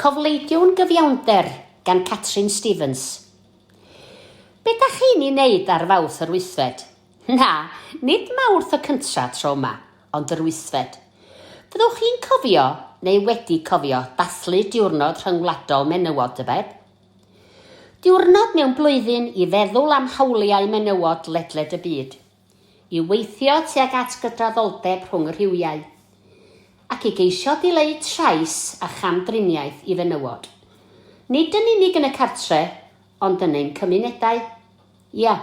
Cofleidiwn gyfiawnder gan Catrin Stevens. Be dach chi'n i neud ar Fawrth yr wythfed? Na, nid Mawrth y cyntra tro yma, ond yr wythfed. Fyddwch chi'n cofio, neu wedi cofio, dathlu Diwrnod Rhyngwladol Menywod, tybed? Diwrnod mewn blwyddyn i feddwl am hawliau menywod ledled y byd. i weithio tuag at gydraddoldeb rhwng y rhywiau, ac i geisio dileu trais a chamdriniaeth i fenywod, nid yn unig yn y cartre, ond yn ein cymunedau. Ia,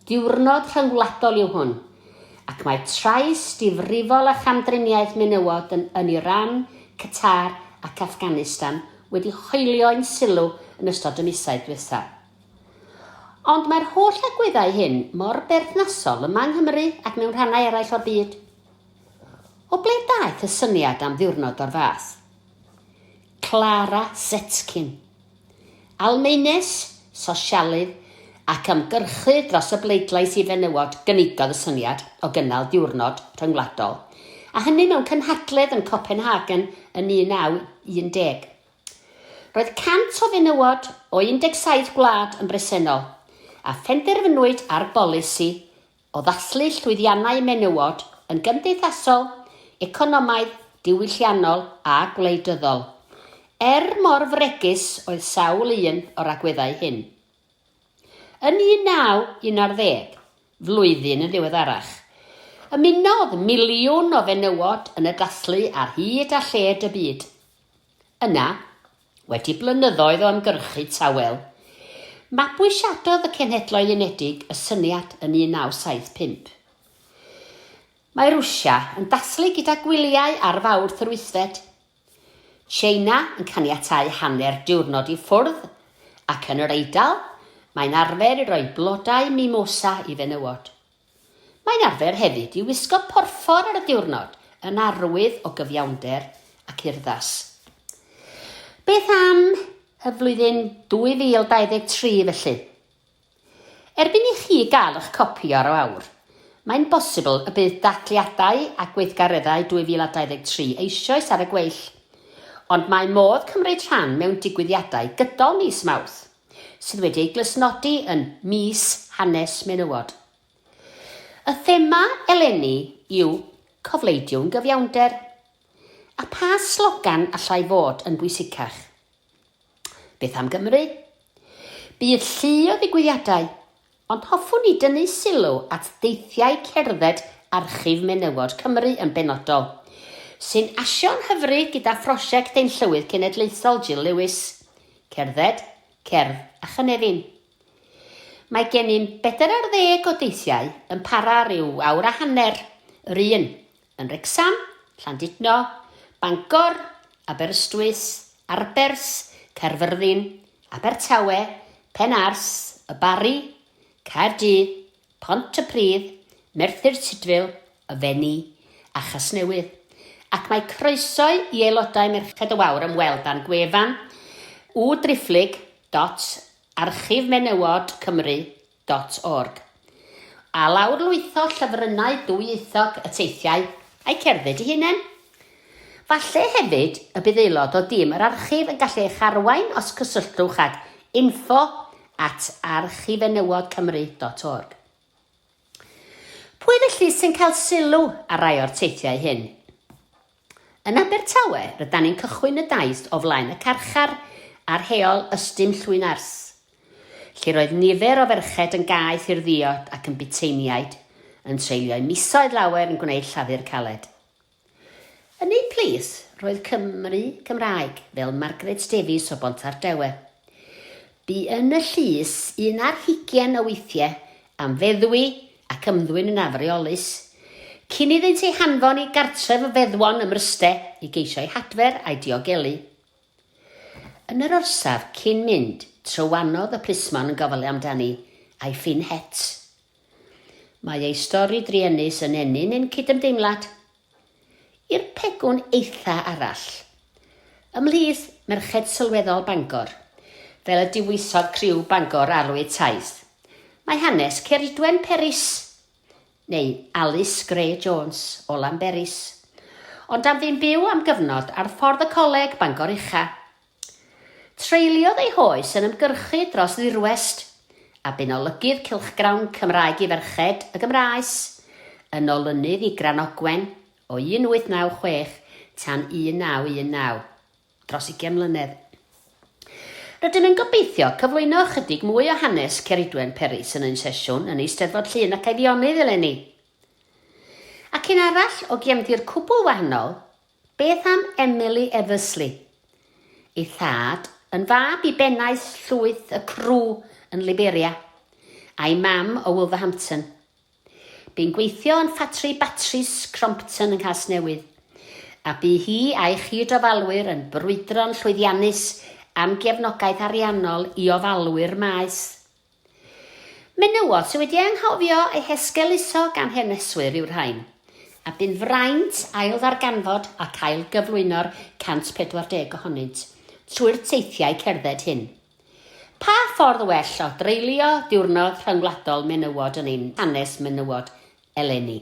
diwrnod rhyngwladol yw hwn, ac mae trais difrifol a chamdriniaeth menywod yn yn Iran, Qatar ac Afghanistan wedi hoelio ein sylw yn ystod y misoedd diwethaf. Ond mae'r holl agweddau hyn mor berthnasol yma yng Nghymru ac mewn rhannau eraill o'r byd. O ble daeth y syniad am ddiwrnod o'r fath? Clara Zetkin, Almaenes, sosialydd ac ymgyrchydd dros y bleidlais i fenywod gynigodd y syniad o gynnal diwrnod rhyngwladol, a hynny mewn cynhadledd yn Copenhagen yn 1910. Roedd 100 o fenywod o 17 gwlad yn bresennol, a phenderfynwyd ar bolisi o ddathlu llwyddiannau menywod yn gymdeithasol, economaidd, diwylliannol a gwleidyddol, er mor fregus oedd sawl un o'r agweddau hyn. Yn 1910, flwyddyn yn ddiweddarach, ymunodd miliwn o fenywod yn y dathlu ar hyd a lled y byd. Yna, wedi blynyddoedd o ymgyrchu tawel, mabwysiadodd y Cenhedloedd Unedig y syniad yn 1975. Mae Rwsia yn dathlu gyda gwyliau ar Fawrth yr wythfed, Tsieina yn caniatáu hanner diwrnod i ffwrdd ac yn yr Eidal mae'n arfer i roi blodau mimosa i fenywod. Mae'n arfer hefyd i wisgo porffor ar y diwrnod yn arwydd o gyfiawnder ac urddas. Beth am y flwyddyn 2023 felly? Erbyn i chi gael eich copi o'r awr, mae'n bosibl y bydd dathliadau a gweithgareddau 2023 eisoes ar y gweill, ond mae modd cymryd rhan mewn digwyddiadau gydol mis Mawrth. sydd wedi ei glustnodi yn Mis Hanes Menywod. Y thema eleni yw Cofleidiwn Gyfiawnder. A pha slogan allai fod yn bwysicach? Beth am Gymru? Bydd llu o ddigwyddiadau Ond hoffwn i dynnu sylw at deithiau cerdded Archif Menywod Cymru yn benodol, sy'n asio'n hyfryd gyda phrosiect ein Llywydd Cenedlaethol Jill Lewis, Cerdded, Cerdd a Chynefin. Mae gennym bedair ar ddeg o deithiau yn para ryw awr a hanner, yr un, yn Wrecsam, Llandudno, Bangor, Aberystwyth, Arberth, Caerfyrddin, Abertawe, Penarth, Y Barri, Caerdydd, Pontypridd, Merthyr Tudful, Y Fenni a Chasnewydd, ac mae croeso i aelodau Merched y Wawr ymweld â'n gwefan www.driphlyg dot archifmenywod cymru dot org. A lawrlwytho llyfrynnau dwyieithog y teithiau a'u cerdded eu hunain. Falle hefyd y bydd aelod o dîm yr archif yn gallu eich arwain os cysylltwch ag info at archifenywodcymru dot org. Pwy felly sy'n cael sylw ar rai o'r teithiau hyn? Yn Abertawe, rydan ni'n cychwyn y daith o flaen y carchar ar Heol Ystum Llwynarth, lle roedd nifer o ferched yn gaeth i'r ddiod ac yn buteiniaid yn treulio'u misoedd lawer yn gwneud llafur caled. Yn eu plith roedd Cymry Cymraeg, fel Margaret Davies o Bontardawe. Bu yn y llys un ar hugain o weithiau am feddwi ac ymddwyn yn afreolus, cyn iddynt ei hanfon i gartref y feddwon ym Mryste i geisio ei hadfer a'i diogelu. Yn yr orsaf cyn mynd, trywanodd y plismon yn gofalu amdani, a'i ffyn het. Mae ei stori druenus yn ennyn ein cydymdeimlad. I'r pegwn eitha arall. Ymhlith merched sylweddol Bangor, fel y diwysodd criw Bangor Arwydd Taith, mae hanes Ceridwen Peris, neu Alice Gray Jones, o Lanberis, ond am ddim byw am gyfnod ar Ffordd y Coleg, Bangor Ucha, Treuliodd ei hoes yn ymgyrchu dros ddirwest, a bu'n olygydd cylchgrawn Cymraeg i Ferched y Gymraes, yn olynydd i Granogwen o 1896 tan 1919, dros ugain mlynedd. Rydym yn gobeithio cyflwyno ychydig mwy o hanes Ceridwen Peris yn ein sesiwn yn Eisteddfod Llŷn ac Eifionydd eleni. Ac un arall o gefndir cwbl wahanol, Beth am Emily Eversley? Ei thad, yn fab i bennaeth llwyth y Cru yn Liberia, a'i mam o Wolverhampton. Bu'n gweithio yn ffatri batris Crompton yng Nghasnewydd, a bu hi a'i chyd-ofalwyr yn brwydro'n llwyddiannus am gefnogaeth ariannol i ofalwyr maes Menywod sydd wedi anghofio eu hesgeuluso gan haneswyr yw'r rhain, a bu'n fraint ailddarganfod ac ailgyflwyno'r 140 ohonynt trwy'r teithiau cerdded hyn. Pa ffordd well o dreulio Diwrnod Rhyngwladol Menywod yn ein hanes menywod eleni?